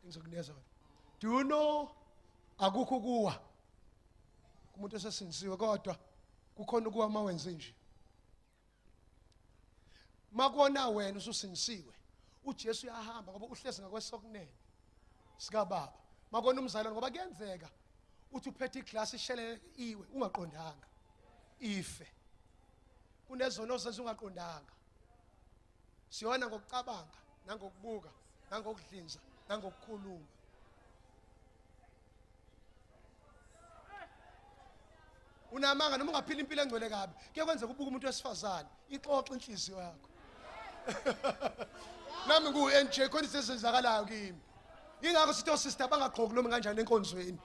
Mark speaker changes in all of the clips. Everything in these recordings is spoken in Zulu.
Speaker 1: ngizokunika zona do you know akukho kuwa kumuntu esesindisiwe kodwa kukhona ukuwa uma wenze nje makona wena ususindisiwe uJesu uyahamba ngoba uhlezi ngakwesokunene sikababa makona umzalwane ngoba kuyenzeka uthi uphethe iglass ishelele iwe ungaqondanga ife kunezono ozenza ungaqondanga siyona ngokucabanga nangokubuka nangokudlinza nangokukhuluma unamanga noma ungaphila impilo engcwele kabi kuye kwenzeka ubuka umuntu wesifazane ixoxa inhliziyo yakho nami ngu-nj khona izinto ezenzakalayo kimi yingakho sithi osista bangagqoki noma kanjani enkonzweni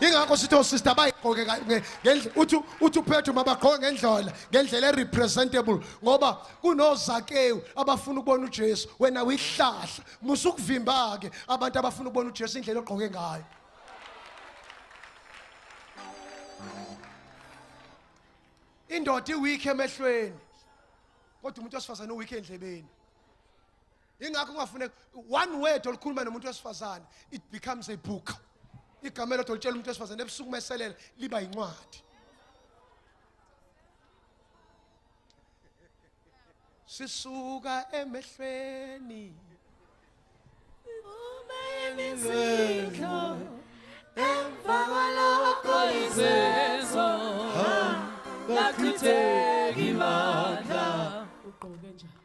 Speaker 1: yingakho sithi osista bayigqoke ngendlela uthi uthi uphethe uma bagqoke ngendlela ngendlela erepresentable ngoba kunozakewu abafuna ukubona uJesu wena uyihlahla musa ukuvimba ke abantu abafuna ukubona uJesu indlela ogqoke ngayo indoda iweak emehlweni kodwa umuntu osifazane uweak endlebeni ingakho kungafuneka one word olukhuluma nomuntu wesifazane it becomes a book igama elodwa olitshela umuntu wesifazane ebusuku uma eselela liba yincwadi sisuka emehlweni uma
Speaker 2: emizidlo emva kwalokho izezo ngachitheki bandla ugqoke njani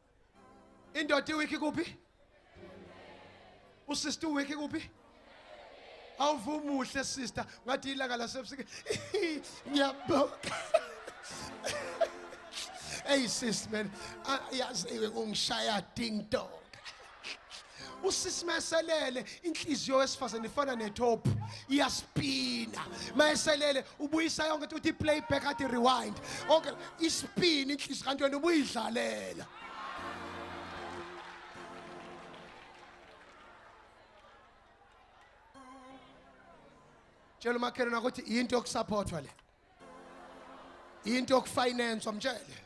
Speaker 1: indoda iwiki kuphi usister uwiki kuphi awuvumuhle sister ngathi ilanga lasebusike ngiyabonga hey sis man yaziwe kungishaya ding dong usisi mayeselele inhliziyo wesifazane ifana netop iyaspina mayeselele ubuyisa yonke uthi play back athi rewind okay ispina inhliziyo kanti wena ubuyidlalela tshela umakhelwane ukuthi yinto yokusaphothwa le into yokufinance wamtshele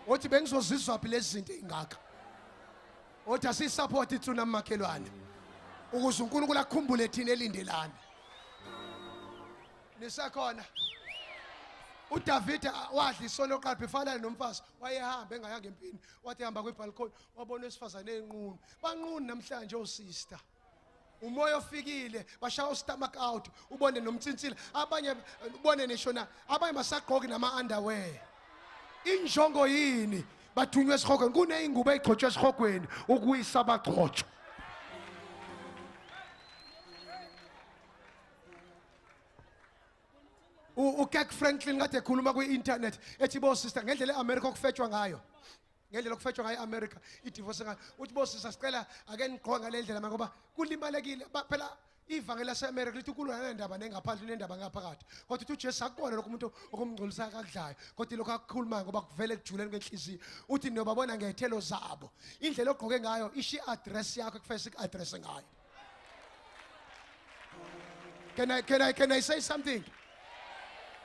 Speaker 1: othi bengizozizwa phi lezi zinto ezingaka othi asisupport itsuna makhelwane ukuze uNkulunkulu akhumbule thina elindelana nisakhona uDavide wadla isono oqala befana nomfazi wayehamba engayanga empini wathi hamba kwibalcony wabona wesifazane enqunu banqunu namhlanje osister oh umoya ofikile bashaya ustomach out ubone nomtsintsila abanye ubone nisho na abanye basagqoki nama underwear injongo yini bathunywe esihogweni kuneyingubo eyigcotshwe esihogweni ukuyisa abagcotshwa ukek franklin kade ekhuluma kwi-internet ethi bo sister ngendlela e-amerika okufetshwa ngayo ngendlela okufetshwa ngayo i-amerika idivorce ngayo uthi bosisa sicela ake nigqoke ngale ndlela ma ngoba kulimalekile phela ivangeli lase-amerika lithi ukulwa nanendaba nengaphandle unendaba ngaphakathi kodwa uthi ujesu akubona lokho umuntu okumngcolisayo akakudlayo kodwa ilokho akukhulumayo ngoba kuvele kujuleni kwenhliziyo uthi niyobabona ngey'thelo zabo indlela ogqoke ngayo isho i-adresi yakho ekufese iku-adrese ngayo Can I, can I, can I say something?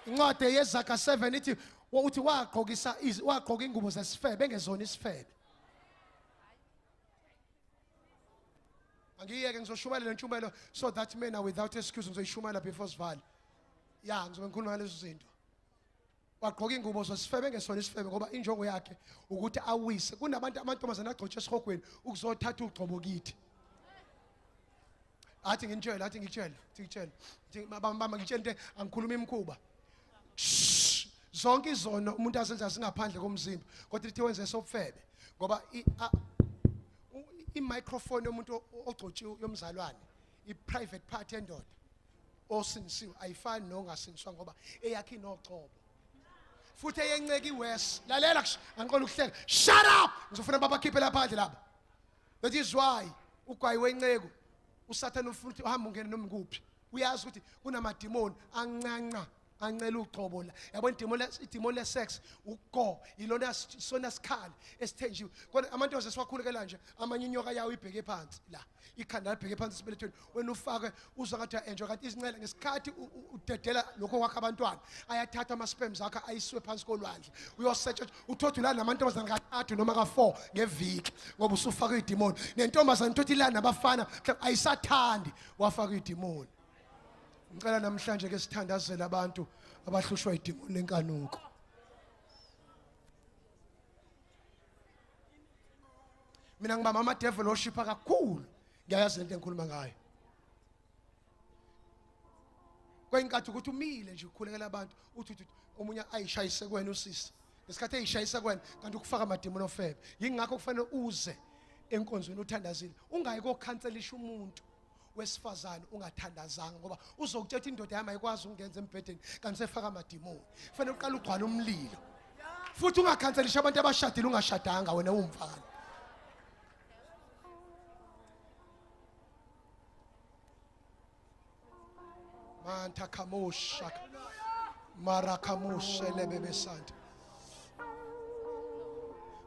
Speaker 1: Incwadi yezaga 7 ithi uthi wagqokisa wagqoka ingubo zesifebe engezona isifebe. Angiyeke ngizoshumayela ntshumayelo so that men are without excuse ngizoyishumayela before sivale. Yeah, ngizobe ngikhuluma ngalezo zinto. wagqoka ingubo zosifebe ngesona isifebe ngoba injongo yakhe ukuthi awise kunabantu amantombazane agcotshe esihogweni ukuzothatha ugcobo kithi athi nginitshela athi ngitshela athi ngitshela bamba ngitshela into angikhuluma imkhuba zonke izono umuntu azenza singaphandle komzimba kodwa lithi wenze sobufebe ngoba i-microphone yomuntu ogcotshiwe yomzalwane i-private part endoda osinisiwe ayifani nongasingiswa ngoba eyakhe inocobo futhi eyenceki worse lalela angiqola ukuhleka shut up ngizofuna babakhiphe laphandle laba that is why ugwayi wenceku usathane ufuna ukuthi uhambe ungene noma kuphi uyazi ukuthi kunamadimoni ancanca ancela uqobo la yabona idemo le idemo le sex ugo ilona sona sikhali esithenjiwe kodwa amantoze siwakhulekela nje amanye inyoka yawo ibheke phansi la ikhanda libheke phansi sibelethweni wena ufake uzwa ngathi enjoy kanti izincela ngesikhathi udedela lokho kwakhe abantwana ayathatha ama sperms akhe ayiswe phansi kolwandle uyosearch uthothu la namantombazana kathathu noma ka4 ngeviki ngoba usufaka idemon nentombazana uthothu la nabafana ayisathandi wafaka idemon ngicela namhlanje ke sithandazele abantu abahlushwa idimoni lenkanuko mina ngibamba ama devil oshipha kakhulu ngiyayazi lento engikhuluma ngayo kwayinkathi ukuthi umile nje ukhulekela abantu uthi uthi omunye ayishayise kwena usisi ngesikhathi eyishayisa kwena kanti ukufaka amadimoni ofebe yingakho kufanele uze enkonzweni uthandazile ungayi kokhanselisha umuntu wesifazane ungathandazanga ngoba uzokuthetha indoda yami ayikwazi ukungenza embhedeni kanti usefaka amadimoni kufanele uqale ugcwale umlilo futhi ungakhanselisha abantu abashadile ungashadanga wena uwumfana manta kamusha marakamushe lebebesanta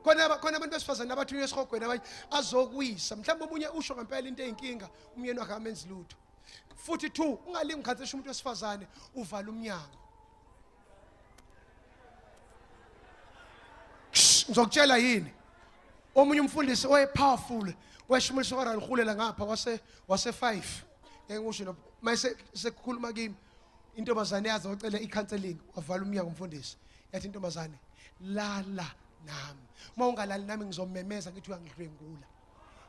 Speaker 1: khona khona abantu besifazane abathunywa esihogweni abanye azokwisa mhlawumbe omunye usho ngempela into eyinkinga umyeni wakhe amenzi lutho futhi two ungalingi ukhathesha umuntu wesifazane uvala umnyango ngizokutshela yini omunye umfundisi oyepowerful weshumulisa kwaraluhulela ngapha wase wase 5 ngeke ngisho no mayise sekukhuluma kimi intombazane yaze wacela i-counseling wavala umnyango umfundisi yathi intombazane lala nami uma ungalali nami ngizomemeza ngithi uyangidlwengula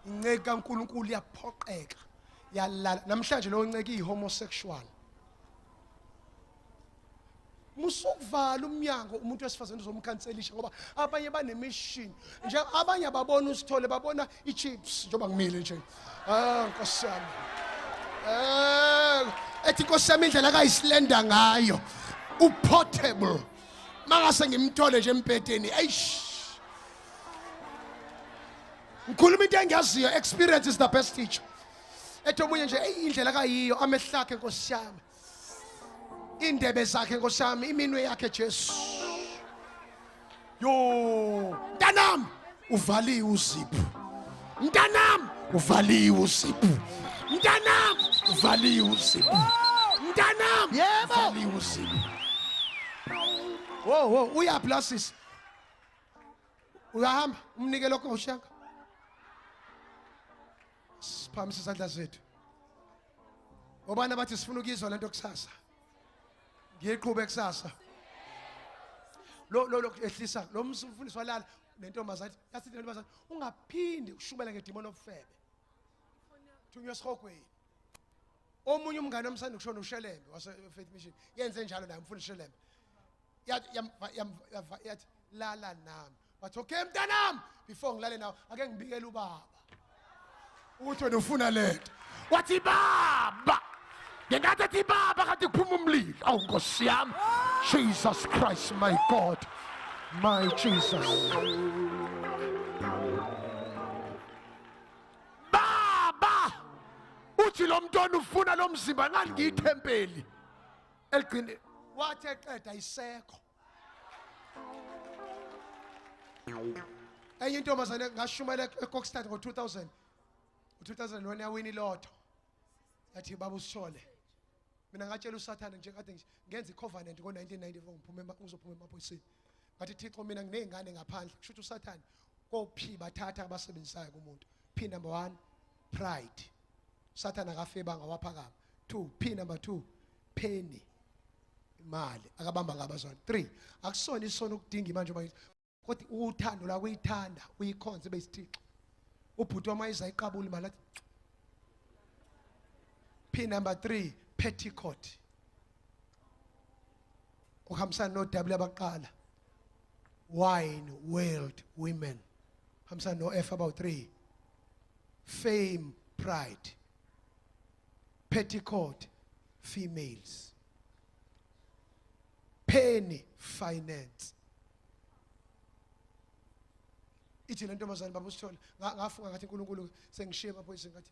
Speaker 1: inceki kankulunkulu iyaphoqeka yalala namhlanje lowo nceki iyi-homosexual musukuvala umnyango umuntu wesifazane uzomkhanselisha ngoba abanye banemishini nje abanye ababona usithole babona ichips njengoba ngimile nje ah nkosi yami eh ethi nkosi yami indlela kayisilenda ngayo uportable mangase ngimthole nje empedeni eish ngikhuluma into engiyaziyo experience is the best teacher ethi omunye nje eyi indlela kayiyo amehlakhe nkosi yami indebe zakhe nkosami iminwe yakhe Jesu yo ntanami uvaliwe uziphu ntanami uvaliwe uziphu ntanami uvaliwe uziphu ntanami yebo uvaliwe uziphu wo wo uyaphi la sisi uyahamba umnike lokho ushaka siphamise isandla zethu obani abathi sifuna ukuyizwa lento kusasa ngiyiqhube kusasa lo lo ehlisa lo mfundisi walala nentombazane yasithi nentombazane ungaphinde ushubela ngedimoni obufebe thunywa esihogweni omunye umngane omsanda kushona ushelembe wase faith mission yenze njalo naye umfundisi shelembe yathi yamva- yamva- yava- yathi lala nami wathi okay mntanami before ngilale nawe ake ngibikele ubaba ukuthi wena ufuna lento wathi baba ngenkathi ethi baba kanti kuphuma umlilo awu nkosi yami jesus christ my god my jesus baba uthi lo mntwana ufuna lo mzimba ngani ngiyithempeli eligcine wathi eqeda isekho enye intombazane ngashumayela ekokstad ngo-2000 ngo-2001 yawini lotho yathi baba usishole mina ngatshela usathane nje kade nje ngenza i-covenant ngo-1994 ngiphume ngizophuma emaphoyiseni ngathi thixo mina nginey'ngane ngaphandle kusho ukuthi usathane kophi bathatha abasebenzisayo kumuntu P number 1 pride. Sathana akafeba ngawaphakama. 2 P number 2 penny imali akabamba ngabazwana 3 akusona isono ukudinga imanje uma kodwa uthando la kuyithanda uyikhonze besithixo ubhuti wama izayiqabula imali athi P number 3 petticoat uhambisana no W abaqala wine world women hambisana no F about 3 fame pride petticoat females penny finance ithi le ntombazane baba usithole ngafunga ngathi uNkulunkulu sengishiye amaphoyisa ngathi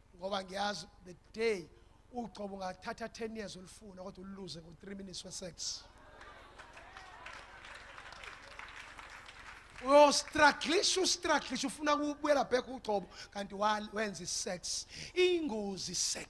Speaker 1: ngoba ngiyazi the day ugcobo ungathatha 10 years ulifuna kodwa uluze ngo 3 minutes we sex uyostruglisha ustruglisha ufuna kubuyela back ugcobo kanti wenza isex ingozi sex